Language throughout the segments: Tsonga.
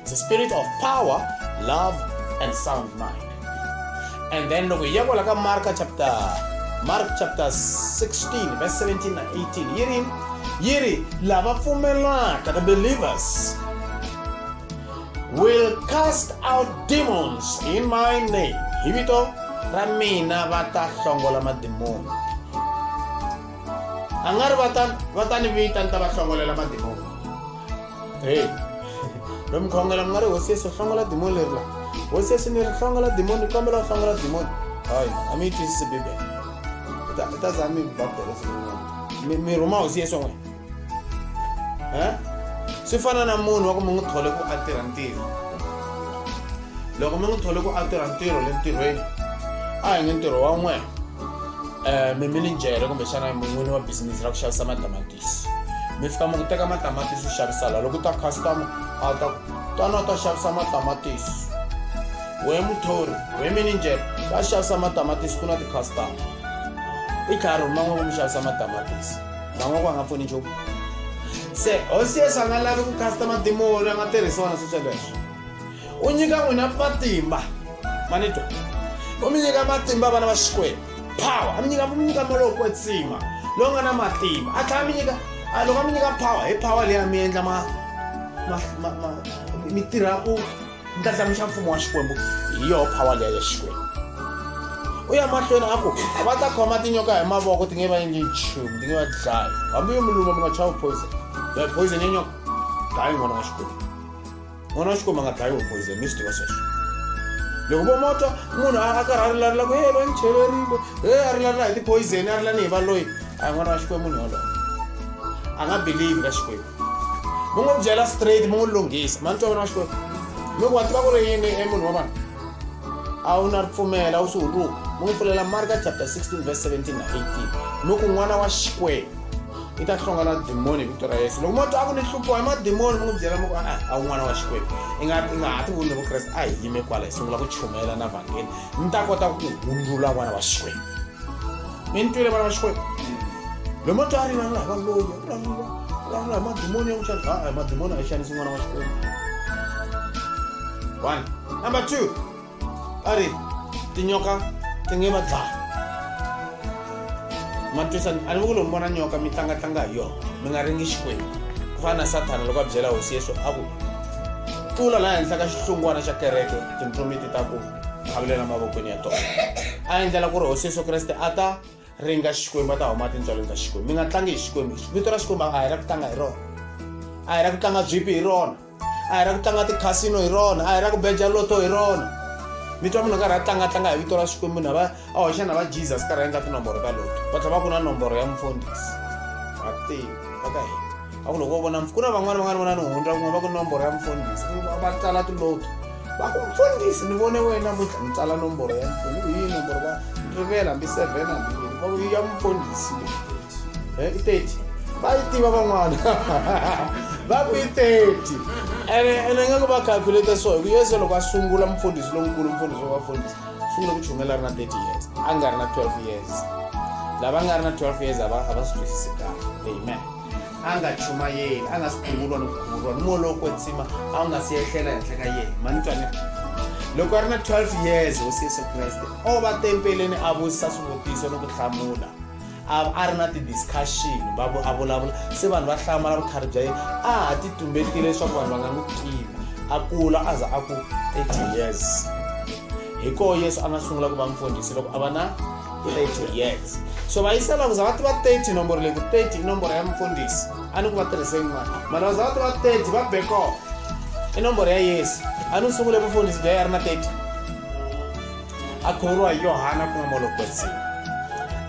It's a spirit of power, love, and sound mind. And then loko hi ya kwala ka Mark chapter Mark chapter 16 verse 17 na 18 yiri yiri lava pfumelaka the believers will cast out demons in my name hi vito ra mina va ta hlongola madimoni a nga ri va ta ni vita ni ta va hlongolela madimoni heyi lo mkhongela mi nga ri hosi yesu hlongola dimoni leri la hosi yesu ni ri hlongola dimoni ni kombela u hlongola dimoni hayi a mi yi twisisi bibele i ta za mi baptela sin'wana mi rhuma hosi yesu n'wina um swi fana na munhu wa ku mi n'wi thole ku a tirha ntirho loko mi n'wi thole ku a tirha ntirho le ntirhweni a hi nge ntirho wa n'wena um eh, miminijere kumbexana mun'wini wa bisinisi ra ku xavisa madamatiki mi fika mi ku teka matamatisi u xavisa la loko u ta customer a ta twana u ta xavisa matamatisi we muthori we mininjere va xavisa matamatisi ku na ti-customer i tlhari man'we ku mi xavisa matamatisi man'we ku a nga pfuni nchumu se hosi yesu a nga lavi ku customer dimoni a nga tirhisiwa na sweswo leswo u nyika n'wina matimba ma ni twa u mi nyika matimba vana va xikwembu power a mi nyika mi nyika malowo kwetsima lowu nga na matimba a tlhela mi nyika a loko a mi nyika power hi power leyi a mi endla ma mi tirha ku ndlandlamuxa mfumo wa xikwembu hi yoho power leya ya xikwembu u ya mahlweni a ku va ta khoma tinyoka hi mavoko ti nge va endli nchumu ti nge va dlayi hambi yo mi luma mi nga chavi poison poison ya nyoka dlayi n'wana wa xikwembu n'wana wa xikomba nga dlayiwi hi poison mi swi tiva sweswo loko vo motwa munhu a karhi a rilalela ku e va ni cheverile e a rilalela hi tipoison a rilani hi valoyi a hi n'wana wa xikwembu munhu yoloyo a nga believe ka xikwembu mi n'wi byela straight mi n'wi lunghisa ma ni twa vana wa xikwembu mi ku wa tiva ku ri yini e munhu wa vanhu a wu na ripfumela wu swi huluka mi n'wi pfulela marka chapter 16 verse 17 na 18 mi ku n'wana wa xikwembu i ta hlonga na dimoni hi vito ra yesu loko mo twa a ku ni hluphiwa hi madimoni mi n'wi byela mi ku a a un'wana wa xikwembu i nga i nga ha ti vuni vukreste a hi yime kwala hi sungula ku chumela na vhangeli mi ta kota ku hundzula n'wana wa xikwembu mi ni twile vana va xikwembu lomo twa a rivalula hi valoyi a vulavula vulavula hi madimoni ya ku xanisa a hi madimoni a yi xanisi n'wana wa xikwembu one number two a ri tinyoka ti nge va dlaya ma twisani a ni vi ku lomu vona nyoka mi tlangatlanga hi yona mi nga ringi xikwembu ku fana na sathana loko a byela hosi yesu a ku tlula laha henhla ka xihlungwana xa kereke tintsumi ti ta ku khavulela mavokweni ya tona a endlela ku ri hosi yesu kreste a ta ringa xikwembu a ta huma tintswalweni ta xikwembu mi nga tlangi hi xikwembu vito ra xikwembu a hi ra ku tlanga hi rona a hi ra ku tlanga byipi hi rona a hi ra ku tlanga tikhasino hi rona a hi ra ku beja loto hi rona mi twa munhu karhi a tlangatlanga hi vito ra xikwembu na va a hoxa na va jesus karhi a endla tinomboro ta loto va tlhela va ku na nomboro ya mufundhisi a ti va ka hina a ku loko wo vona ku na van'wana van'wana vona ni hundza kun'we va ku nomboro ya mufundhisi va tsala tiloto mfundhisi ni vone wena namuntlha ni tsala nomboro ya mfumo hi yihi nomboro va rivela hambi seven hambi yini ya mfundhisi eh, i thirty va yi tiva van'wana va ku yi thirty ene ene nga ku va calculate so hi ku yesu loko a sungula mfundhisi lonkulu mfundhisi wa vafundhisi sungula ku chumela ri na thirty years a nga ri na twelve years lava nga ri na twelve years a va a va swi twisisi kahle amen a nga chumayeli a nga si khungulwa ni khungulwa ni moya lowo kwetsima a wu nga si yehlela henhla ka yena manitwane loko a ri na 12 years hosi yesu kreste o va tempeleni a vutisa swivutiso ni ku hlamula a ri na ti-discussion a vulavula se vanhu va hlamala vukhari bya yena a ha ti tumbetile leswaku vanhu va nga n'wi tivi a kula a za a ku 30 years hi koho yesu a nga sungula ku va mfundhisi loko a va na 30 years so vaisala kuza vati va 30 nomboro leyi ku 30 i nomboro ya mufundhisi a ni ku va tirhise yin'wana mana kuza vati va 30 va beko i nomboro ya yesu a ni sungule vufundhisi bya ya ri na 30 a khuvuriwa hi yohana ku nga molokwetsini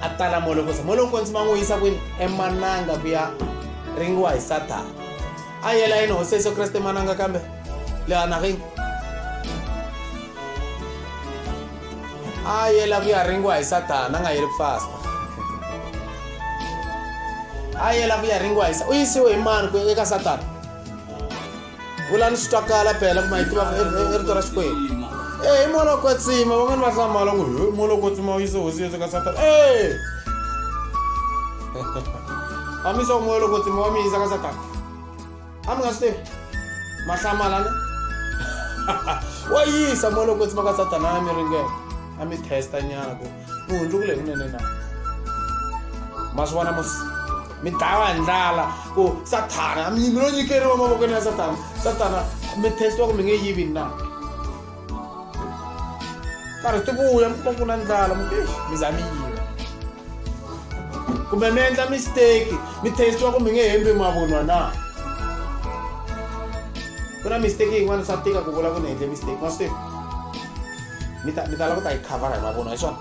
a tala molokwetsi molokwetsi ma n'wi yisa kwini emananga ku ya ringiwa hi sathana a yela yini hosi yesu kreste emananga kambe lehanagini a yela ku ya ringiwa hi satana a nga yeli ku fasta a yela ku ya ringiwa hi u yisiwe hi mani ku eka satana vula ni swi twakala phela kuma yi tiva i rito ra xikwembu e hi mola kwetsima van'wani va hlamala ku hi mola kwetsima u yise hosi yesu ka satana e amisa ku moya loko tsima wa mi yisa ka satana amukasiteri mahlamala ne wa yisa mo loko tsima ka satana ya mi ringela a mi testa nyana ku mi hundzukule kunene na ma swi vona musi mi dlawa hi ndlala ku sathana mi lo nyikeriwa mavokweni ya sathana sathana mi testiwa ku mi nge yivi na karhi ti vuya mi kuma ku na ndlala mi mi za mi yiva kumbe mi endla mistake mi testiwa kumbe nge hembi mavunwa na ku na mistake yin'wana swa tika ku vula ku ni endle mistake ma swi mi ta mi ta lava ku ta yi khavara hi mavunwa hi swona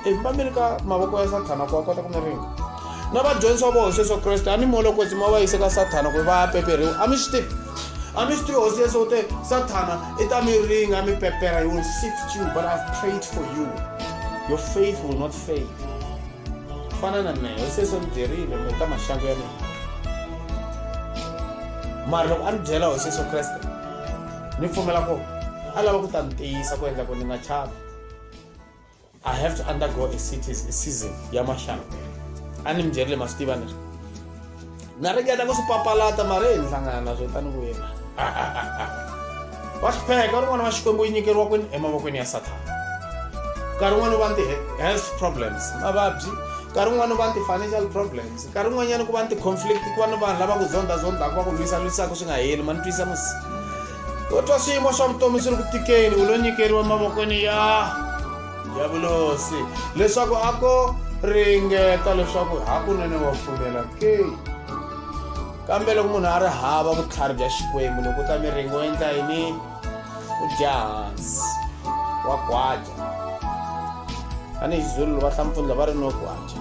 i mi va mi ri ka mavoko ya sathana ku wa kota ku mi ringa na vadyondzisi wa voho sweswo kreste a ni molokotsima va yise ka sathana ku va ya peperiwa a mi swi tivi A mi swi tivi hosi yesu u te sathana i ta mi ringa mi pepera you will sift you but i've prayed for you your faith will not fail fana na mehe hosi yesu ni byerile mi ka maxangu ya mina mara loko a ni byela hosi yesu kreste ni pfumela ku a lava ku ta ni tiyisa ku endla ku ni nga chavi i have to undergo a cities a season ya maxana a ni mi byerile ma swi tiva ni na ringeta ku swi papalata mara hi ni hlangana na swo tani ku yena wa hlupheka rin'wana wa xikwembu yi nyikeriwa kwini emavokweni ya sathana nkarhi wun'wana u va ni ti-health problems mavabyi nkarhi wun'wana u va ni ti-financial problems nkarhi wun'wanyana ku va ni ti-conflict ku va ni vanhu lava ku zonda zondaka va ku lwisa lwisaka swi nga heli ma ni twisa musi kotwa swiyimo swa vutomi swi ri ku tikeni u lo nyikeriwa mavokweni ya ya vulosi leswaku a ko ringeta leswaku hakunene wa pfumela ke kambe loko munhu a ri hava vutlhari bya xikwembu loko u ta miringo endla yini u dya hansi wa gwaja tanihi xizulu va hlampfundla va ri no gwaja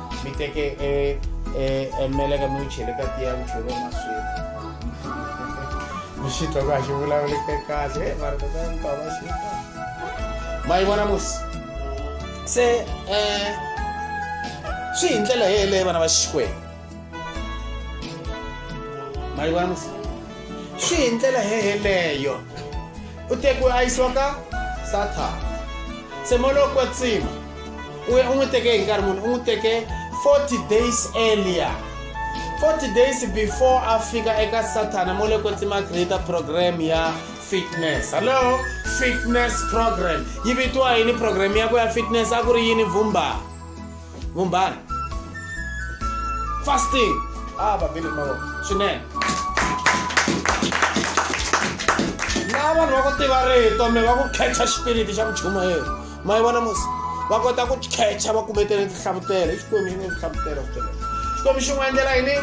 mi teke e e emeleka mi wu chele ka tiya wu cheriwa maswiri mi xi twa ku a xi vulavuleke kahle e mara tata mi tava xi ma yi vona musi se um swi hi ndlela yeleyo vana va xikwembu ma yi vona musi swi hi ndlela yeleyo u tekiwe a yisiwa ka sathana se molokwetsima u ya u n'wi teke hi nkarhi muni u n'wi teke 40 days earlier 40 days before a fika eka sathana mo le kwetsima creator program ya fitness hallo fitness program yi vitiwa yini program ya ku ya fitness a ku ri yini vumba vumbana fasting a ah, vabili mavoko swinene laha vanhu va ku tiva rito mi va ku khecha xipiriti xa muchuma yena ma yi vona musi va kota ku catcha va kumetele tinhlavutelo i xikwembu xi nge tinhlavutelo kuele xikwembu xi n'wi endlela yini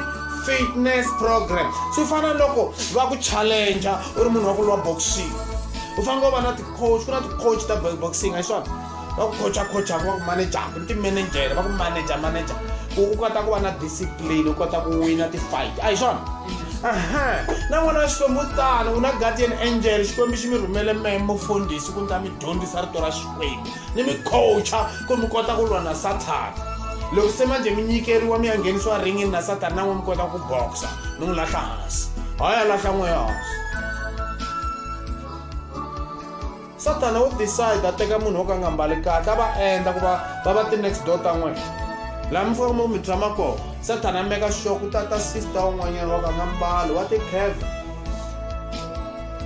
fitness program swi fana loko va ku challenger u ri munhu wa ku lwa boxing u fanele u va na ticoach ku na ticoach ta boxing a xona va ku coacha coachaka va ku manajaku ni timanajele va ku manaja manaja ku u kota ku va na discipline u kota ku wina ti-fight a hi swona aha na n'wana wa xikwembu u tano u na guardian angel xikwembu xi mi rhumele memo fondhisi ku ni ta mi dyondzisa rito ra xikwembu ni mi coacha ku mi kota ku lwa na sathana loko se manje mi nyikeriwa mi ya nghenisiwa ringini na sathana na n'we mi kota ku boxa mi n'wi lahla hansi hayi a lahla n'we hansi sathana wo decide a teka munhu wo ka nga mbali kahle a va endla ku va va va ti-next door ta n'wena laha mi fika mi tshama kona sathana meka xoko u tata sister un'wanyana wa ka nga mbali wa ti-cave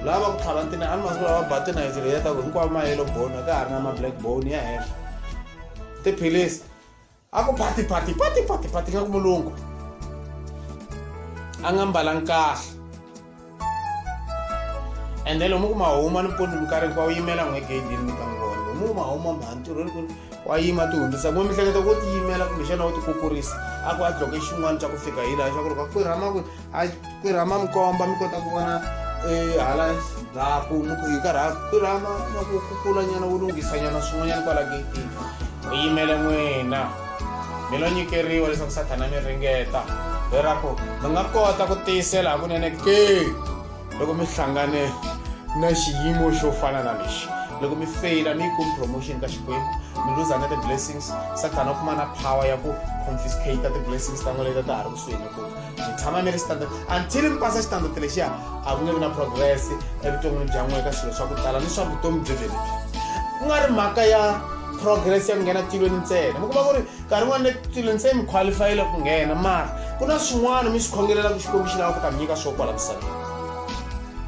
lava ku tlhava ntina a ni masiku lawa va ba tinayiti leyi ya ta ku hinkwavo ma yellow bone ka ha ri na ma-black bone ya henhla tiphilisi a ku phati phati phati phati phati nga ku mulungu a nga mbalangi kahle ende lomu ku mahuma ni mpundzu minkarhi hinkwawu yimela n'we gedini mi ka n'wi vona lomu ku mahuma mha ntirhweni ku wa yima ti hundzisa kumbe mihleketa ko ti yimela kumbexana wo ti kukurisa a ku a dloke xin'wana xa ku fika hi laha xa ku ri ka kwirhama kwini a ku rhama mi komba mi kota ku vona eh, hala ndzhaku hi karha ku rhama na ku kukula nyana wu lunghisa nyana swin'wanyana kwala getini u yimele n'wina mi lo nyikeriwa leswaku sathana mi ringeta leraku mi nga kota ku tiyisela hakunene ke loko mi hlangane na xiyimo xo fana na lexi loko mi feyila mi yi kumi promotion ka xikwembu mi luza na ti-blessings sathana u kuma na power ya ku confiscate ti-blessings ta n'we leta ta ha ri kusuhi ni ku ni tshama ni ri standard until mi pasa xitandard lexiya a ku nge vi na progress evuton'wini bya n'we ka swilo swa ku tala ni swa vutomi byo byebyi ku nga ri mhaka ya progress ya ku nghena tilweni ntsena mi kuma ku ri nkarhi n'wana le tilweni se mi qualifyile ku nghena mara ku na swin'wana mi swi khongelela ku xikwembu xi lava ku ta mi nyika swo kwala misaveni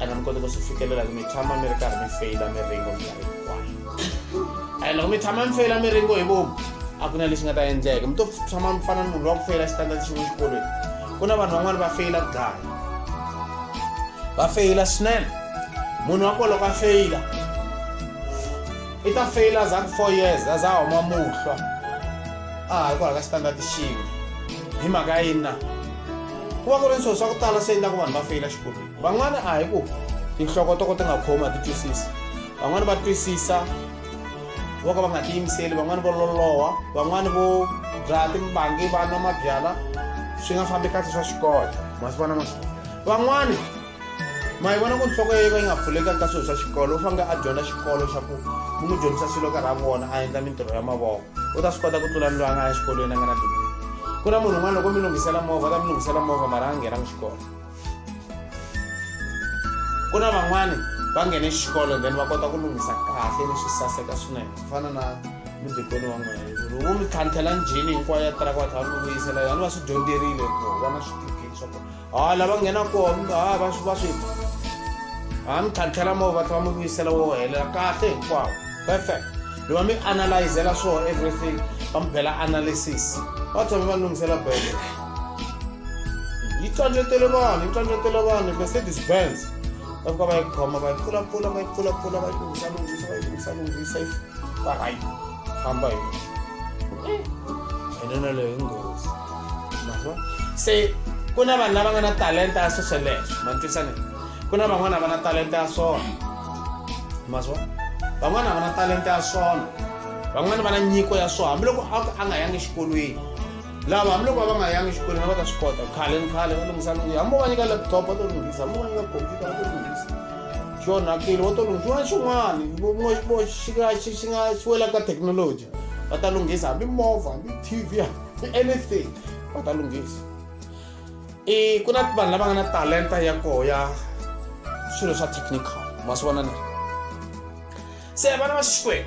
ana mi kota ku swi fikelela ku mi tshama mi ri karhi mi feyila miringo minkarhi hinkwayo and loko mi tshama mi feyila miringo hi vomu a ku na lexi nga ta endleka mi to tshama mi fana ni munhu wa ku feyila xitandati xin'we xikolweni ku na vanhu van'wana va feyila ku dlaya va feyila swinene munhu wa ko loko a feyila i ta feyila za ku four years a za huma muhlwa a ha ri ku halaka xitandati xin'we hi mhaka yini na ku va ku ri ni swilo swa ku tala swi endlaku vanhu va feyila xikolweni van'wana a hi ku tinhloko to ka ti nga khomi a ti twisisi van'wana va twisisa vo ka va nga tiyimiseli van'wana vo loloha van'wana vo byala timbangi va nwa mabyala swi nga fambi kahle swa xikolo masivona ma van'wana ma yi vona ku nhloko ya yi va yi nga pfulekanga ka swilo swa xikolo u fanele a dyondza xikolo xa ku u n'wi dyondzisa swilo karhi a vona a endla mintirho ya mavoko u ta swi kota ku tlula ni loyi a nga ya exikolweni a nga na digri ku na munhu un'wana loko mi lunghisela movha u ta mi lunghisela movha mara a nghenanga xikolo ku na van'wani va nghene xikolo then va kota ku lunghisa kahle ni swi saseka swinene ku fana na mudikoni wa n'wina ri wu mi tlhantlhela njhini hinkwayo ya tiraka va tlhela va mi vuyisela yona va swi dyondzerile ku va na switifiketi swa kona ha ah, lava nghena kona ha ah, va swi va swi ha ah, mi tlhantlhela mo va tlhela va mi vuyisela wo helela kahle hinkwawo perfect loko mi analyzela swo everything va mi bela analysis va tshame va lunghisela bele yi tlhandletele vanhu yi tlhandletele vanhu mercedes benz va fika va yi khoma va yi pfulapfula va yi pfulapfula va yi lunghisa lunghisa va yi lunghisa lunghisa va hayi famba hi yona leyo i nghozi mava se ku na vanhu lava nga na talenta ya swesweleswo ma twisane ku na van'wana va na talenta ya swona ma swa van'wana va na talenta ya swona van'wana va na nyiko ya swona hambiloko a a nga yangi exikolweni lava hambiloko va va nga yangi xikolweni va ta swi kota khale ni khale va lunghisa lunghisa hambi va nyika laptop va to lunghisa hambi va nyika computer va to lunghisa xi onhakile va to lunghisa xin'wana xin'wana xi nga xi xi nga xi wela ka thekinoloji va ta lunghisa hambi movha hambi tv hambi anything va ta lunghisa i ku na vanhu lava nga na talenta ya koho ya swilo swa technical ma swi vona na se vana va xixikwenu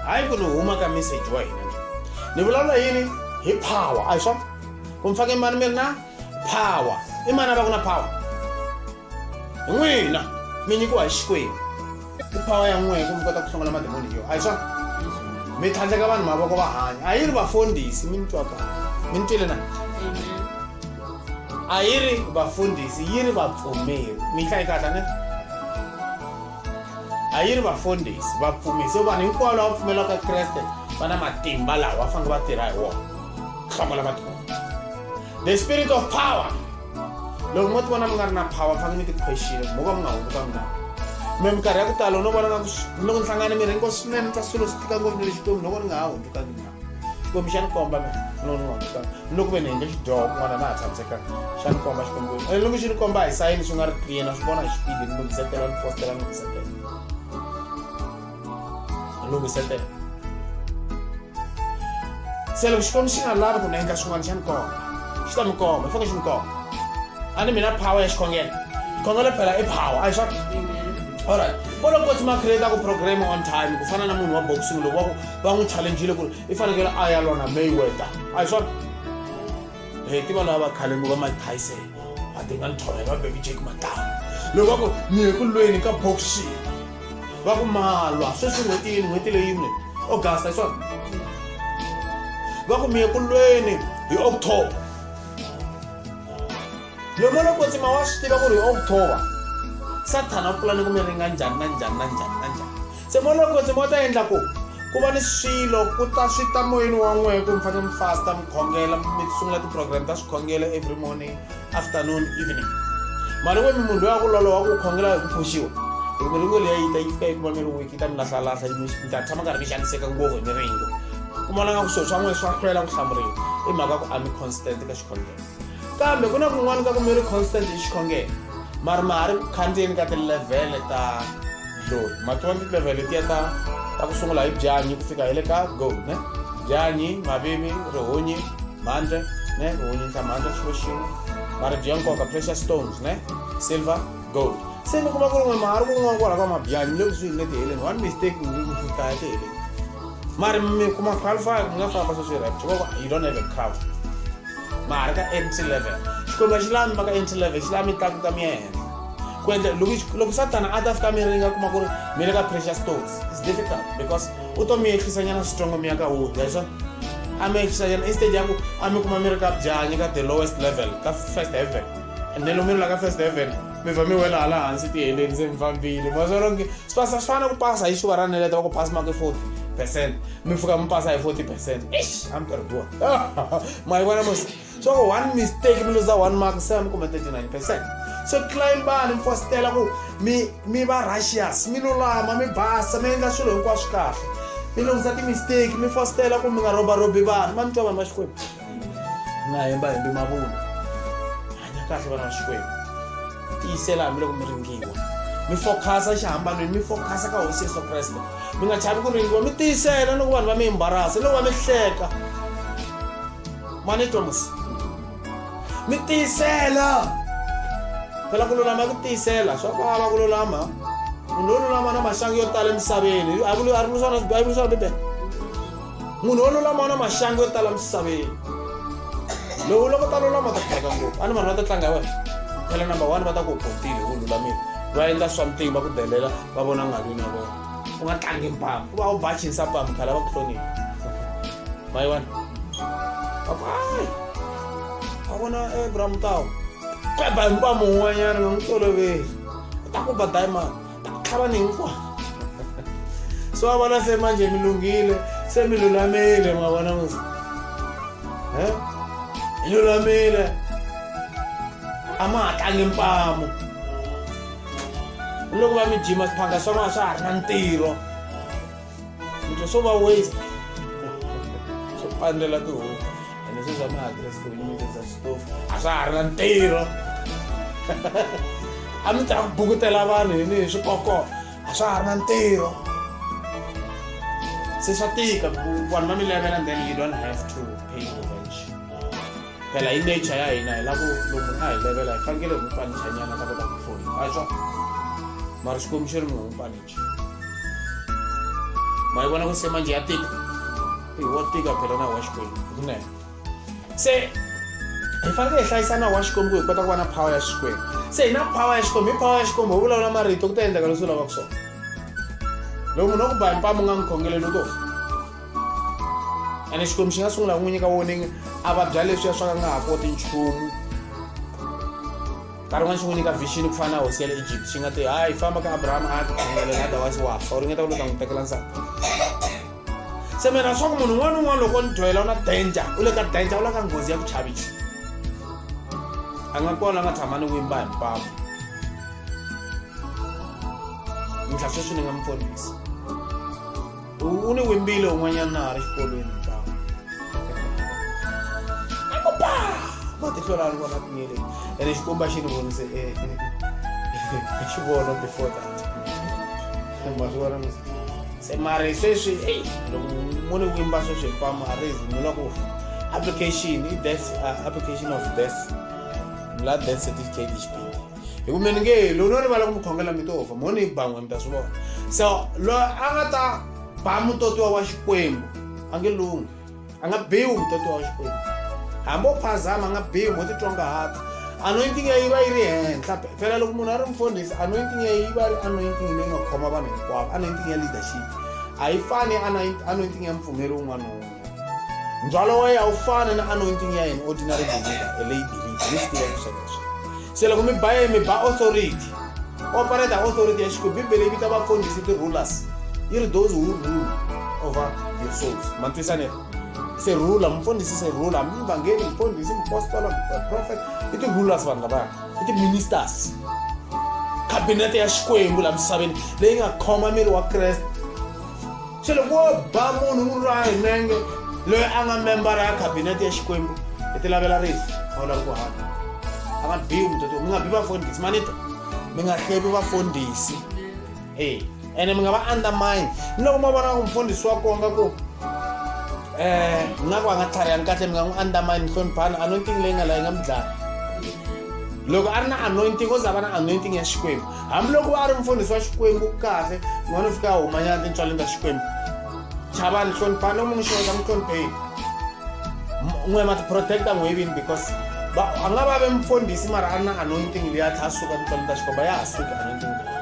hayi ku ni huma ka message wa hina ni vulavula yini hi power a hi swona ku mi fake mani mi ri na power i mani a va ku na power hi n'wina mi nyikiwa hi xikwenu i power ya n'wina ku mi kota ku hlongola mademoni yo a hi swona mi tlhandleka vanhu mavoko va hanya a yi ri vafundhisi mi ni twa ka mi ni twile na a yi ri vafundhisi yi ri vapfumeri mi hlayi kahle ne a yi ri vafundhisi vapfumisi hikuva vanhu hinkwavo lava pfumelaka kreste va na matimba lawa va fanele va tirha hi wona hlomola matimba the spirit of power loko mo ti vona mi nga ri na power mi fanele mi ti-question mo ka mi nga hunguta mina me minkarhi ya ku tala no vona nga ku loko ni hlangane mi rhengo swinene ni twa swilo swi tika ngopfu ni le xikwembu loko ni nga ha hundzukanga mina xikwembu xa ni komba me no no no ta loko ve ni hende xidyoho kun'wana na ha tshamiseka xa ni komba xikwembu eh, loko xi ni komba hi sayini swi nga ri clear na swi vona hi xipidi ni lunghisetela ni fostela ni lunghisetela ni lunghisetela se loko xikwembu xi nga lavi ku ni endla swin'wana xa ni komba xi ta mi komba i faneke xi ni komba a ni mina power ya xikhongelo khongelo phela i power a hi swa alright kolokoti ma create ku program on time ku fana na munhu wa boxing loko wa ku va n'wi challenjile ku ri i fanekele a ya lwa na mayweather a hi swona e ti vanhu va khale ku va mike tyson va dinga ni thorhela va baby jake matanga loko va ku ni ye ku lweni ka boxing va ku malwa sweswi n'hweti yini n'hweti leyi yini august a hi swona va ku mi ye ku lweni hi october lomo loko tsima wa swi tiva ku ri hi october sathana u pulani ku mi ringa njhani na njhani na njhani na njhani Tsemo loko tsemo u ta endla ku ku va ni swilo ku ta swi ta moyeni wa n'wehe ku mi fanele mi fasta mi khongela mi sungula ti-program ta swikhongelo every morning afternoon evening mali n'we mi munhu loyi a ku loloha ku khongela hi ku pfuxiwa hi ku ringo leyi yi ta yi fika yi kuma mi ri wiki ta mi lahlalahlha yi mi ta tshama karhi mi xaniseka ngopfu hi miringo ku vona nga ku swilo swa n'wehe swa hlwela ku hlamuriwa i mhaka ku a mi constant ka xikhongelo kambe ku na kun'wana ka ku mi ri constant hi xikhongelo mari ma ha ri ku khandziyeni ka tilevhele ta xitori mati wa ti-level letiya ta ta ku sungula hi byanyi ku fika hi le ka go ne byanyi mavivi rihunyi mhandle ne rihunyi ndla mhandle xilo xin'we maribye ya nkoka pressure stones ne silver gold se ni kuma ku ri n'we mahari ku n'wa kwala ka mabyanyi le kusuhi ni le tiheleni one mistake ni ku fika ya tiheleni mari mi kuma qualify mi nga famba sweswi rap xivoko you don't have a crowd mahari ka mt level xikwembu a xi lami va ka mt level xi lami tlakuka mi ya henhla ku endla loko loko satana a ta fika miri yi nga kuma ku ri mi le ka pressure stones is difficult because u to mi yehlisanyana switsongo mi ya ka wo ya swona a mi yehlisanyana instead ya ku a mi kuma mi ri ka byanyi ka the lowest level ka first heaven and then loko mi ri la ka first heaven mi vha mi wela hala hansi tiheleni se mi fambile maswalonge swi pasa swi fana ku pasa hi xuva ra neleta va ku pasi make forty percent mi pfuka mi pasa hi forty percent ish a mi karhi duwa ma yi vona mos so one mistake mi luza one mark se mi kume 39 percent so tlimbani mi fositela ku mi mi va russious mi lulama mi basa mi endla swilo hinkwaswo kahle mi lunghisa timistake mi fositela ku mi nga robarobi vanhu ma ni twa vanhu va xikwembu mi nga hemba hembi mavunwa hanya kahle vana va xikwembu tiyisela hambiloko mi ringiwa mi fokhasa xihambanweni mi fokhasa ka hosi yesu kreste mi nga chavi ku ringiwa mi tiyisela loko vanhu va mi embarasa loko va mi hleka mani i twa musi mi tiyisela phela ku lulama ku tiyisela swa vava ku lulama munhu wo lulama na maxangu yo tala emisaveni a ri vuliswana bibele swa bibele munhu wo lulama na maxangu yo tala emisaveni lowu loko ta lulama ta tlanga ngopfu a ni vanhu va ta tlanga wena phela number one va ta ku botile ku lulamile va endla swa mitingi va ku delela va vona ngalwini ya vona u nga tlangi mpama u va u bachinsa pama khala va ku hlonile Bye one. Bye bye. A ku na Abraham Mutawu. Kweba hinkwawo mun'wanyana nga n'wi toloveli. U ta ku ba diamond. Ta ku tlhava ni hinkwawo. So va vona se manje mi lunghile, se mi lulamile ma vona musa. He? Hi lulamile. A ma ha tlangi mpamu. Loko va mi jima swiphanga swa n'wana swa ha ri na ntirho. swilo swo va waste swo pandlela tihomu ene sweswi a ma ha tirhisi tihomu mi tirhisa xitofu a swa ha ri na ntirho a mi ta bukutela vanhu hi ni hi swikoko a swa ha ri na ntirho se swa tika ku vanhu va mi levela then you don't have to pay revenge phela hi nature ya hina hi lavo lomu a hi levela hi fanekele hi n'wi panichanyana ta kota ku pfuna a swa mara xikwembu xi ri mi n'wi panicha mayibona ukuthi semanje yatika iwotika phela na washcom kunene se hi fanele hi hlayisa na washcom ku hi kota ku va na power ya xikwembu se hi na power ya xikwembu hi power ya xikwembu hi vulavula marito ku ta endleka leswi u lavaka swona loko munhu wa ku ba hi mpamu nga n'wi khongeleli u to fa ene xikwembu xi nga sungula ku n'wi nyika warning a vabya leswiya swa ka nga ha koti nchumu nkarhi wun'wana xi n'wi nyika vixini ku fana na hosi ya le egypt xi nga te hayi famba ka abrahama a ya tikhongelela otherwise wa fa u ringeta ku le ta n'wi tekela nsati se mina swa ku munhu un'wana un'wana loko ni dyohela u na danger u le ka danger u la ka nghozi ya ku chavichi a nga kona a nga tshama ni wimba hi mpamo mintlha sweswi ni nga mi ponisa u ni wimbile un'wanyana na ha ri xikolweni ntlangu aku pa matihlo laha ni vona ku nyele ene xikomba xi ni vonise e, e, e, xi vona before that ma swi vona se mari sweswi ei loko mu ni wimba sweswi hinkwamu a ri zi ni loko application i death uh, application of death la death certificate xipidi hi ku mi ni nge lowu no rivala ku mi khongela mi to fa mo ni yi ban'we mi ta swi vona so loyi a nga ta ba mutotiwa wa xikwembu a nge lunghi a nga biwi mutotiwa wa xikwembu hambi o phazama a nga biwi mo titwa ngahata anointing ya yi va yi ri henhla phela loko munhu a ri mfundhisi anointing ya yi va ri anointing leyi nga khoma vanhu hinkwavo anointing ya leadership a yi fani anointing ya mupfumeri wun'wana na wun'wana ndzhwalo wa yena a wu fani na anointing ya yena ordinary believer a lay believer mi swi tiva sweswo se loko mi ba yena mi ba authority operate authority ya xikwembu bibele yi vita vafundhisi ti-rulers yi ri those who rule over your souls ma twisane se rula mfundhisi se rula hambi mvangeli mfundhisi mpostola prophet i ti-rulers vanhu lavaya i ti-ministers khabinete ya xikwembu laha misaveni leyi nga khoma miri wa kreste se loko wo ba munhu n'wi lwa hi nenge loyi a nga membara ya khabinete ya xikwembu hi ti lavela rifu a wu lavi ku hanya a nga biwi mutoto mi nga bi vafundhisi manito mi nga hlevi vafundhisi e ene mi nga va undermine ni loko mo vona ku mfundhisi wa konga ku um nga ku a nga tlhariyangi kahle mi nga n'wi undermine hloniphani anointing leyi nga layi nga mi dlaya loko a ri na anointing o za va na anointing ya xikwembu hambiloko a ri mfundhisi wa xikwembu kahle n'wana u fika a humanyana tintswaleni ta xikwembu chavani hloniphani loko mi n'wi xeweta mi hlonipheni n'we ma ti-protecta n'we vini because a nga va ve mfundhisi mara a ri na anointing leyi a tlha a suka tintswaleni ta xikwembu a ya ha suki anointing leyi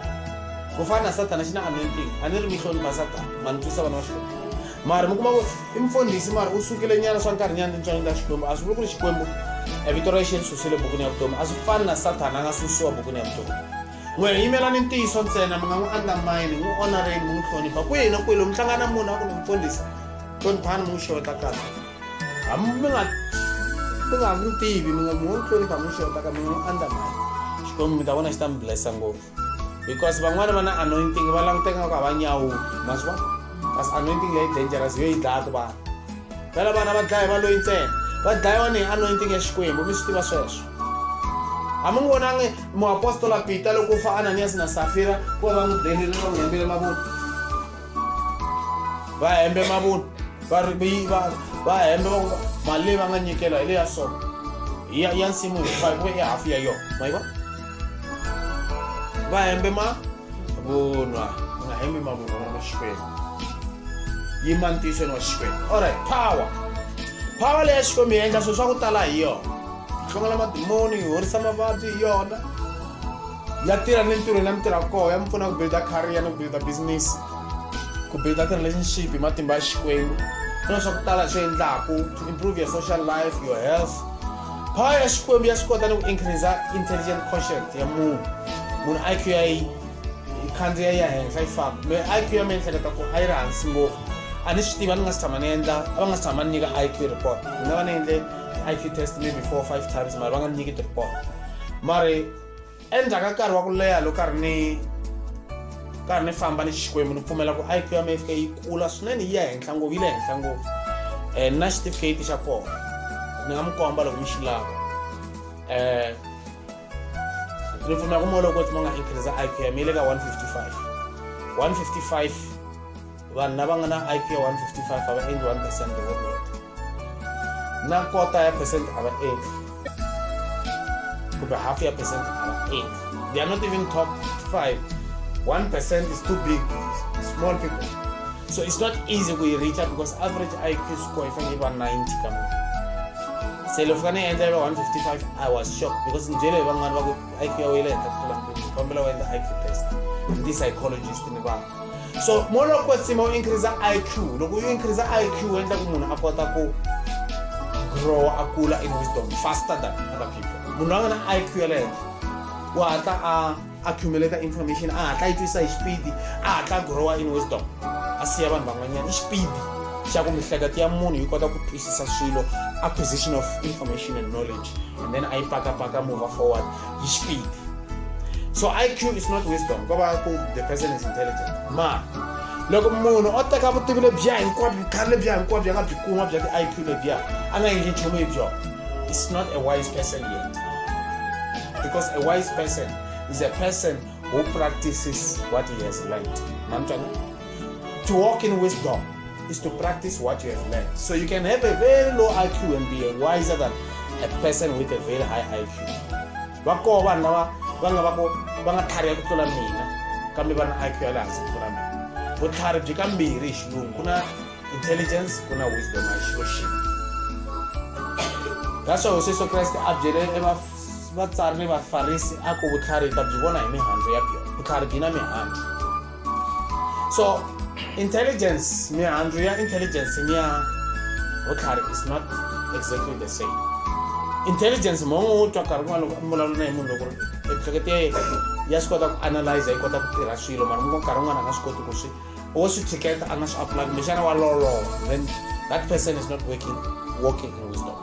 ku fana na sathana xi na anointing a ni ri mi hlonipha sathana ma ni twisa vana va xikwembu mara mi kuma ku i mfundhisi mara u sukile nyana swa nkarhi nyana tintswalo ta xikwembu a swi vuli ku ri xikwembu e vito ra yexi ri susile bukwini ya vutomi a swi fani na sathana a nga susiwa bukwini ya vutomi n'we hi yimela ni ntiyiso ntsena mi nga n'wi andlamayini n'wi onareni mi n'wi hlonipha kwihi na kwihi lomu tlanga na munhu a ku ni mfundhisi hloniphani mi n'wi xeweta kahle hambi mi nga mi nga n'wi tivi mi nga mi n'wi hlonipha mi n'wi xeweta ka mi nga n'wi andlamayini xikwembu mi ta vona xi ta mi blessa ngopfu because van'wani va na anointing va languteka nga ku a va nyawuli ma swi vona kasi anointing leyi dangerous yo yi dlayaka vanhu phela vana va dlaya va loyi ntsena va dlayiwa ni hi anointing ya xikwembu mi swi tiva sweswo a mi n'wi vonangi muapostola pita loko u fa ananiyasi na safira ku va va n'wi berile va n'wi hembele mavunwa va hembe mavunwa va va va hembe va mali leyi va nga nyikela hi leya so ya ya nsimu hinkwayo ku ve i hafu ya yona ma yi vona va hembe ma vunwa u nga hembi mavunwa vana va xikwembu yima ntiyisweni wa xikwembu allright power power leyi ya xikwembu yi endla swilo swa ku tala hi yona hlongela madimoni yi horisa mavabyi hi yona ya tirha ni ntirhweni ya mitirha koho ya mi pfuna ku builda career ni ku builda business ku builda ti-relationship hi matimba ya xikwembu na swa ku tala swi endlaku to improve your social life your health Pha ya Xikwembu ya swi kota ni ku increase intelligent quotient ya munhu. Munhu IQ ya yi khandziya yi ya henhla yi famba. Me IQ ya mina ehleketa ku a yi ri hansi ngopfu. A ni swi tivi a ni nga si tshama ni endla a va nga si tshama ni nyika IQ report. Ni nga va ni endle IQ test maybe four or five times mara va nga ni nyiki ti-report mara. Endzhaku ka nkarhi wa ku leha loko karhi ni karhi ni famba ni Xikwembu ni pfumela ku IQ ya mina fika yi kula swinene yi ya henhla ngopfu yi le henhla ngopfu um na xitifiketi xa kona ni nga mi komba loko mi xi lava um ni pfumela ku moloko ti ma nga increase IQ ya mi yi le ka one fifty five one fifty five vanhu lava nga na iq ya 155 a va endli 1 percent hi workload na kota ya percent a va endli kumbe half ya percent a va endli they are not even top 5 1 percent is too big small people so it's not easy ku yi reacha because average iq score yi fanele yi va 90 ka munhu se loko ka ni endla yi va 155 i was shocked because ni byele hi van'wana va ku iq ya wele henhla ku tlula mpimo kombela u endla iq test ndi psychologist ni vanhu so mo loko ko tsima u increase iq loko u increase iq u endla ku munhu a kota ku grow a kula in wisdom faster than other people munhu a nga na iq ya le henhla u hatla a accumulate information a hatla yi twisa hi xipidi a hatla a growa in wisdom a siya vanhu van'wanyana i xipidi xa ku mihleketo ya munhu yi kota ku twisisa swilo acquisition of information and knowledge and then a yi pakapaka mova forward You speak. So IQ is not wisdom. Go back the person is intelligent. Ma. loko munhu o teka vutivi lebyiya hinkwabyo vukhari lebyiya hinkwabyo a nga byi kuma bya ti-iq lebyiya a nga endli nchumu hi byona is not a wise person yet because a wise person is a person who practices what he has learned namtwana To walk in wisdom is to practice what you have learned. So you can have a very low IQ and be wiser than a person with a very high IQ. va koho vanhu lava va nga va ko va nga tlhariha ku tlula mina kambe va na IQ ya le hansi ku tlula mina vutlhari byi ka mbirhi hi xilungu ku na intelligence ku na wisdom a hi xilo xin'we that's why hosi yesu kreste a byele vatsari ni vafarisi a ku vutlhari ta byi vona hi mihandzu ya byona vutlhari byi na mihandzu So, intelligence, me and real intelligence, me Otlhare is not exactly the same. Intelligence mo o twa ka rin'wana loko mbulavulo na hi munhu loko miehleketo ya yena ya swi kota ku analyze yi kota ku tirha swilo mara mo nkarhi wun'wana a nga swi koti ku swi wo swi tlhiketa a nga swi apply kumbexana wa loloha then that person is not working working in wisdom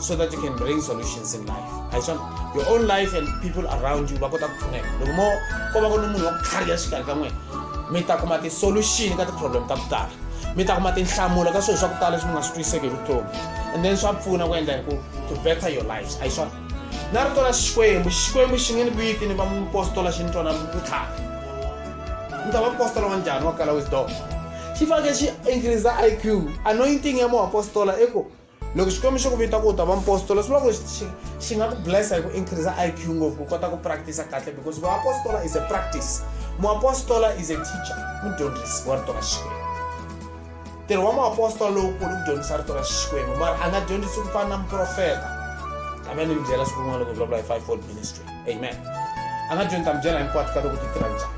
so that you can bring solutions in life hi swona your own life and people around you va kota ku pfuneka loko mo ko va ku ni munhu wa ku tlhariha xikarhi ka n'wina mi ta kuma ti-solution ka ti-problem ta ku tala mi ta kuma tinhlamulo ka swilo swa ku tala leswi mi nga swi twiseki hi vutomi and then swa pfuna ku endla hi ku to better your lives hi swona na rito ra xikwembu xikwembu xi nge ni viti ni va mupostola xi ni twana vutlhari ni ta va mupostola wa njhani wa kala wisdom xi fanekele xi increase iq anointing ya muapostola i ku loko xikwembu xi ku vita ku u ta va mpostola swi vula ku xi xi nga ku blessa hi ku increase i q ngopfu ku kota ku practice kahle because vuapostola is a practice muapostola is a teacher mudyondzisi wa rito ra xikwembu ntirho wa muapostola lowukulu ku dyondzisa rito ra xikwembu mara a nga dyondzisi ku fana na muprofeta kambe ni mi byela siku rin'wana loko vulavula hi five fold ministry amen a nga dyondza mi byela hinkwato ka loko ti tirha njhani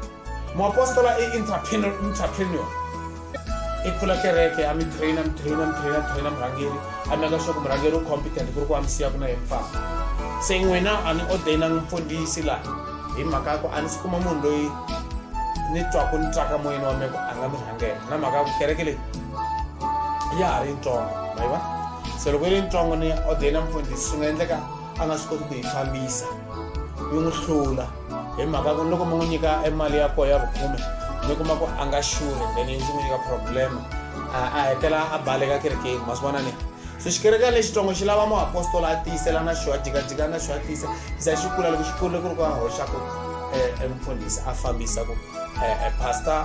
Moapostola e entrepreneur, entrepreneur. E pfula kereke, a mi trainer, mi trainer, mi trainer, trainer murhangeri. A mi aka swaku murhangeri u competent ku ri ku a mi siya ku na yena famba. Se n'wina a ni ordainanga mfundhisi laha hi mhaka ya ku a ni si kuma munhu loyi ni twaku ni twaka moyeni wa mina ku a nga mi rhangela na mhaka ya ku kereke leyi ya ha ri yitsongo ma yi va se loko yi ri yitsongo ni ordaina mfundhisi swi nga endleka a nga swi koti ku yi fambisa yi n'wi hlula hi mhaka ku loko mi n'wi nyika e mali ya koho ya vukhume mi kuma ku a nga xuri then yi ndzi n'wi nyika problem a hetela a baleka kerekeni ma swi vona ni so xikereka lexitsongo xi lava muapostola a tiyisela na xo a jikajika na xo a tiyisa xa xi kula loko xi kurile ku ri ku a hoxa ku emufundhisi a fambisa ku pastor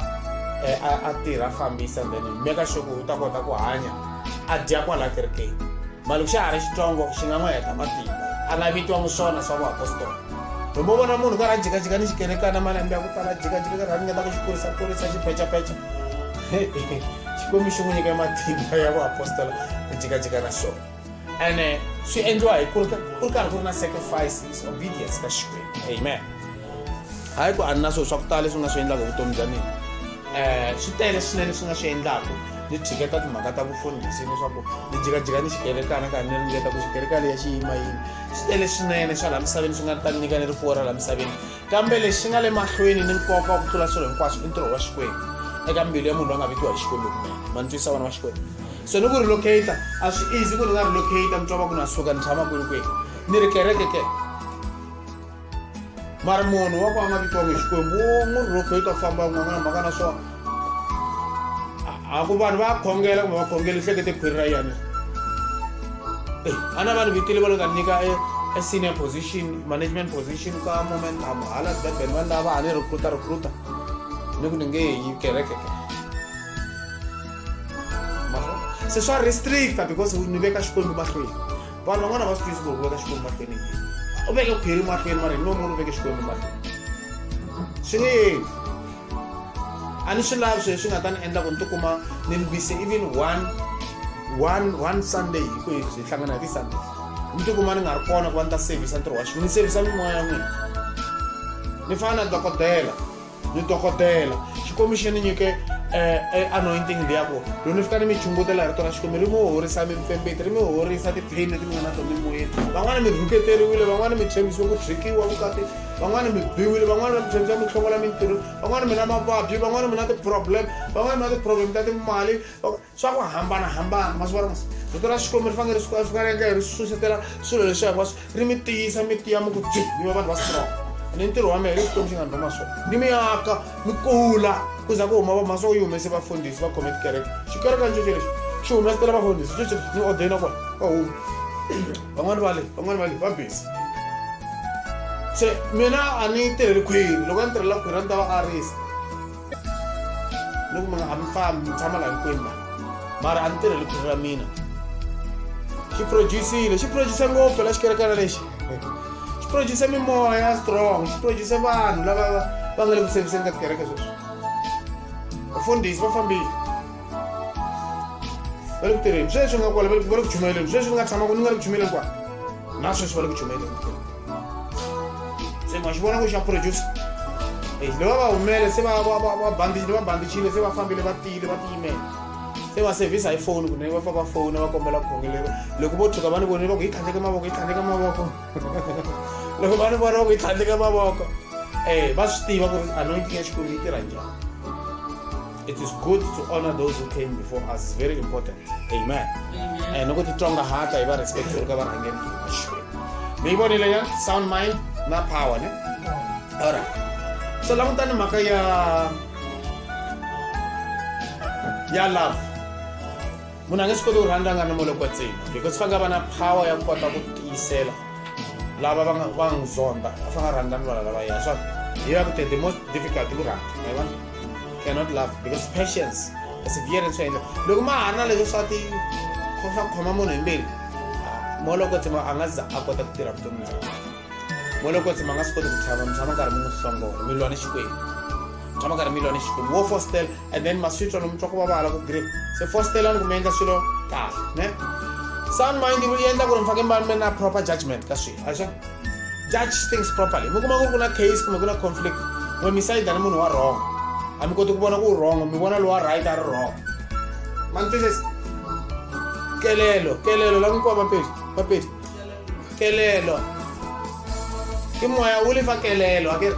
a tirha a fambisa then mi ka xo ku u ta kota ku hanya a dya kwala kerekeni mali ku xa ha ri xitsongo xi nga n'wi heta matimba a nga vitiwa muswona swa vuapostola loko u vona munhu karhi a jikajika ni xikerekana malembe ya ku tala jikajika karhi a ringeta ku xi kurisa kurisa xi pechapecha xikwembu xi n'wi nyika matimba ya vuapostola ku jikajika na xona ene swi endliwa hi ku ri karhi ku ri na sacrifices obedience ka xikwembu amen hayi ku a ni na swilo swa ku tala leswi nga swi endlaka vutomi bya mina um swi tele swinene leswi nga swi endlaku ni tshiketa timhaka ta vufundhisi leswaku ni jikajika ni xikerekana ka ni ringeta ku xikerekana ya xiyima yini swi tele swinene swa laha misaveni swi nga ta nyika ni rifuwo ra laha misaveni kambe lexi nga le mahlweni ni nkoka ku tlula swilo hinkwaswo i ntirho wa xikwembu eka mbilu ya munhu loyi a nga vekiwa hi xikwembu kunene ma ni twisa vana va xikwembu so ni ku relocator a swi easy ku ni nga relocator mi twa va ku na suka ni tshama kwini kwini ni ri kereke ke mari munhu wa ku a nga vitiwanga hi xikwembu wo n'wi rhoko yi ta famba n'wan'wana mhaka na swona a ku vanhu va khongela kumbe va khongela hlekete khwiri ra yena eh, a na vanhu vitile va lo ta nyika e, e senior position management position ka momentum hala durban vanhu lava a ni recruta recruta ni ku ni nge yi kerekeke se swa restricta because ni veka xikwembu mahlweni vanhu van'wana va swi tivisi ku veka xikwembu mahlweni u veke khwiri mahlweni mara hi no munhu u veke xikwembu mahlweni swi nge yeni a ni swi lavi sweswi nga ta ni endla ku ni tikuma ni mbise even one one one sunday hi ku hi hlangana hi ti-sunday ni tikuma ni nga ri kona ku va ni ta sevhisa ntirho wa xi ni sevhisa mimoya ya n'wina ni fana na dokodela ni dokodela xikwembu xi ni nyike eh, eh, anointing leya ku loko ni fika ni mi chungutela hi rito ra xikwembu ri mi horisa mipfembeti ri mi horisa tipheni leti mi nga na to mimoyeni van'wana mi rhuketeriwile van'wana mi tshembisiwe ku byikiwa vukati van'wana mi biwile van'wana mi tshembisa mi hlongola mintirho van'wana mi na mavabyi van'wana mi na ti-problem van'wana mi na ti-problem ta timali swa ku hambanahambana masiva rin'we rito ra xikwembu ri fanele ri faneleke ri susetela swilo leswi hinkwaswo ri mi tiyisa mi tiya mi ku byi mi va vanhu va strong ni ntirho wa mehe leswi xikwembu xi nga ni rhoma swona ni mi aka mi kula ku za ku huma va mhasa ku yi humese vafundhisi va khome tikereke xikereke ni xexo lexi xi humesetela vafundhisi xexo ni ordena kona va huma van'wani va le van'wani va le va busy se mina a ni tirheli khwiri loko a ni tirhela khwiri a ni ta va arisa ni ku mi nga ha mi fambi mi tshama laha hinkwenu la mara a ni tirheli khwiri ra mina xi producile xi producise ngopfu la xikerekana lexi xi producise mimoya ya strong xi producise vanhu lava va nga le ku seviseni ka tikereke sweswi vafundhisi va fambile va le ku tirheni sweswi nga kwala va le ku chumeleni sweswi ni nga tshamaku ni nga le ku chumeleni kwa na sweswi va le ku chumeleni se ma xi vona ku xa producer eyi lava va humele se vabandichile se va fambile va tiyile va tiyimele se va sevhisa hi foni kunene va fa va fona va kombela khongelero loko vo tshuka va ni vonile va ku yi tlhandleke mavoko yi tlhandleke mavoko loko va ni vona va ku yi tlhandleke mavoko um va swi tiva ku ri anointing ya xikwembu yi tirha njhani It is good to honor those who came before us. It's very important. Amen. Eh, no kuti tonga hata iba respect for ka barangeri ki mashwe. Mi boni le ya sound mind na power ne. All right. So la mutani maka ya ya love. Muna nge sikolo randa ngana molo kwa tsini because fanga bana power ya kota ku tisela. Lava banga bangzonda fanga randa nwa lava ya. So you have to the most difficult to randa. Amen. cannot love because patience perseverance swa endla loko ma ha ri na leswi swa ti swa ku khoma munhu hi mbilu molokotsi ma a nga za a kota ku tirha vutomi bya molokotsi ma nga swi koti ku tshama mi tshama karhi mi n'wi hlongola mi lwa ni xikwembu tshama karhi mi lwa ni xikwembu wo fostel and then maswitwa lomu twa ku vavala ku grip se fostelani ku mi endla swilo kahle ne sound mind yi endla ku ri mi faneke mi va mi na proper judgment ka swilo axa judge things properly mi kuma ku ri ku na case kumbe ku na conflict n'we mi sayida ni munhu wa wrong a mi koti ku vona ku wrong mi vona lowa right a ri wrong mantises kelelo kelelo la n'wikuwa mapedi mapedi kelelo i moya wu lefa kelelo a ke ri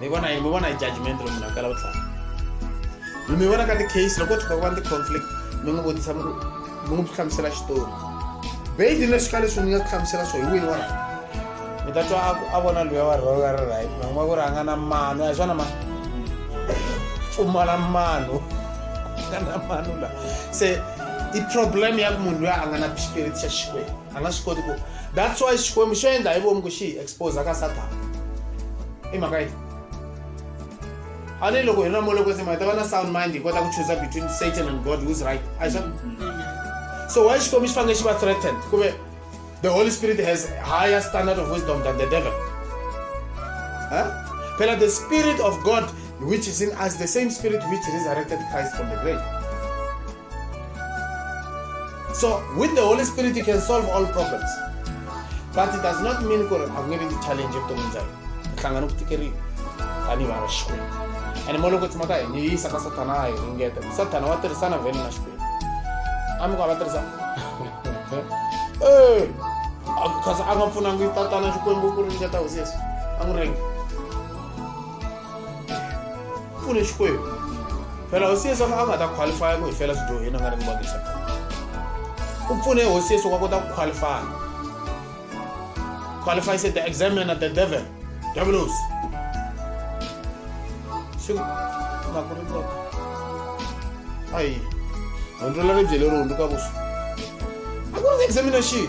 mi vona yini mi vona hi judgment lomu na kala vutlhari mi vona ka ti-case loko tshuka ku va ni ti-conflict mi n'wi vutisa mi n'wi hlamusela xitori beyili leswi ka leswi mi nga ku hlamusela swo hi wini wa rhanga mi ta twa a vona luya wa rhanga ri right man'wa ku ri a nga na mano ya swona ma pfumala mano nga na mano la se i problem ya ku munhu luya a nga na spirit xa xikwembu a nga swi koti ku that's why xikwembu xo endla hi vomu ku xi hi expose ka satana i mhaka yini a ni loko hi na mole kwetsema hi ta va na sound mind hi kota ku choosa between satan and god who's right a xa so why xikwembu xi fanele xi va threatened kumbe the holy spirit has higher standard of wisdom than the devil huh? phela the spirit of god which is in us the same spirit which resurrected christ from the grave So with the Holy Spirit you can solve all problems. But it does not mean ku ri a ku nge vi ti challenge evuton'wini bya hina. Ku hlangana ku tikeriwa tanihi vana Xikwembu. And mo loko tsima ka hina yi yisa ka Sathana a hi ringeta. Sathana wa tirhisana vhele na Xikwembu. A mi ku a va tirhisana. Eh, kasi a nga pfunangi tatana Xikwembu ku ringeta hosi Yesu. A n'wi ringi. pfune xikwembu phela hosi yesu a nga ta qualifya ku hi fela swidyoho yena a nga ri ni vangisa u pfune hosi yesu ku a kota ku qualifya qualify se the examiner the devil devlos swi nga ku ri kota ayi hundzu la ri byele ri hundzuka vusu a ku ri examination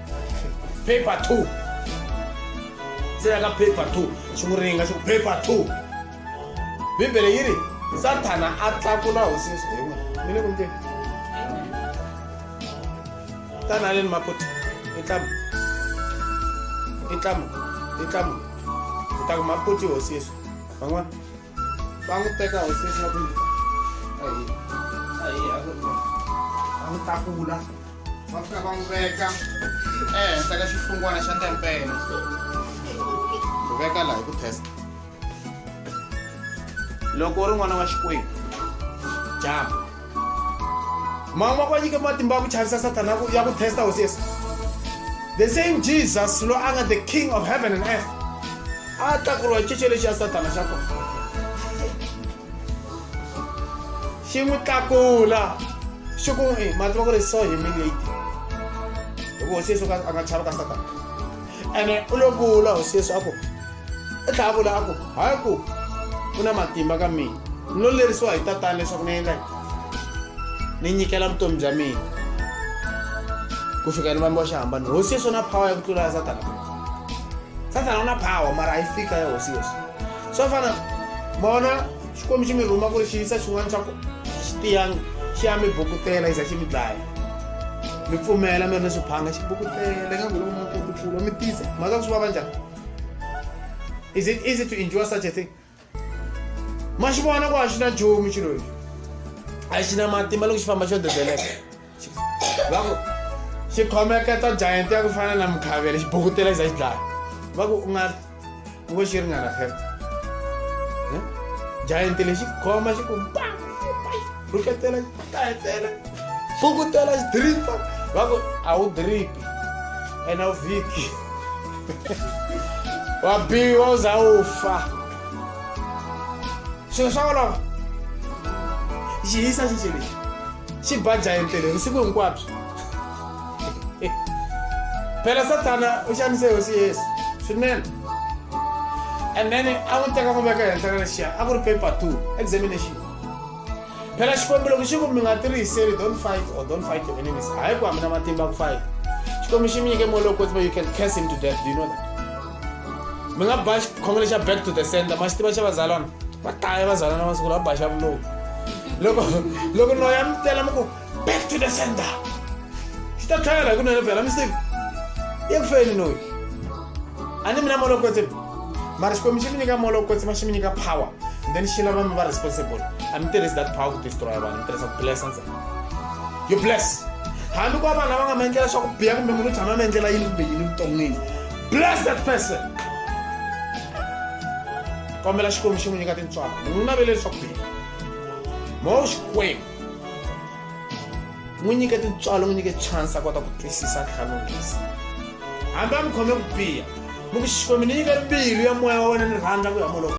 paper two ntsena ka paper two swi n'wi ringa swi ku paper two bibele yi ri sathana a tlakula hosi yesu hi wena mi le ku ndleni tanaleni maputi i tlamu i tlamu i tlamu hi ta ku maputi hosi yesu van'wana va n'wi teka hosesi va ku yini a hi a hi a ku va n'wi tlakula va fika va n'wi veka ehenhla ka xihlungwana xa tempele ku veka laha hi ku testa loko u ri n'wana wa xikwembu jama mama wa ku va nyike matimba ya ku chavisa sathana ya ku ya ku testa hosi yesu the same jesus loyi a nga the king of heaven and earth a tlakuriwa xice lexi ya sathana xa kona xi n'wi tlakula xi ku n'wi eh, mativa ku ri so humiliating hikuva hosi yesu ka- a nga chava ka satana ene u lo vula hosi yesu a ku u tlhela a vula a ku hayi ku u na matimba ka mina ni lo lerisiwa hi tatana leswaku ni endla ni nyikela vutomi bya mina ku fika ni vambiwa xihambano hosi yesu na power ya ku tlula ya satana satana u na power mara a yi fika ya hosi yesu swo fana vona xikwembu xi mi rhuma ku ri xi yisa xin'wana xa ku xi tiyanga xi ya mi bukutela yi za xi mi dlaya mi pfumela mi ri ni swiphanga xi bukutela ingaku loko mi koti pfulo mi tisa mhaka ku swi vava njhani is it easy to endure such a thing ma xi vona ku a xi na nchumu xilo lexi a xi na matimba loko xi famba xo dedeleka va ku xi khomeketa giant ya ku fana na mukhavele xi bukutela xi za xi dlaya va ku u nga u ngo xi ringana fela giant lexi khoma xi ku ba rhuketela kahetela fukutela xidiripa va ku a wu diripi ene wu vhiki wa biwa u za u fa swilo swa olova xi hisa xinxi lexi xi ba jayentele vusiku hinkwabyo phela sathana u xanise hosi yesu swinene and then a n'wi teka n'wi veka henhla ka lexiya a ku ri paper two examination phela xikwembu loko xi ku mi nga tiriseli don't fight or don't fight your enemies hayi ku hambi na matimba ku fight xikwembu xi mi nyike moya lowu kotiba you can case him to death do you know that mi nga ba xikhongelo xa back to the center ma xi tiva xa vazalwana va taya vazalwana masiku lawa va ba xa vuloku loko loko noya mi tela mi ku back to the sender swi ta tlhela hi kunene phela mi swi tivi i ku feni noyi a ni mina molokwetse mara xikwembu xi mi nyika molokwetse ma xi mi nyika power then xi lava mi va responsible a mi tirhisi that power ku destroya vanhu mi tirhisa ku blessa ntsena you bless hambi ku va vanhu lava nga mi endlela swa ku biya kumbe munhu u tshama mi endlela yini kumbe yini vuton'wini bless that person kombela xikwembu xi n'wi nyika tintswalo n'wi navele leswaku biya mo xikwembu n'wi nyike tintswalo n'wi nyike chance a kota ku twisisa ntlhanu ngezi hambi a mi khome ku biha mi ku xikwembu ni nyike mbilu ya moya wa wena ni rhandza ku ya moloko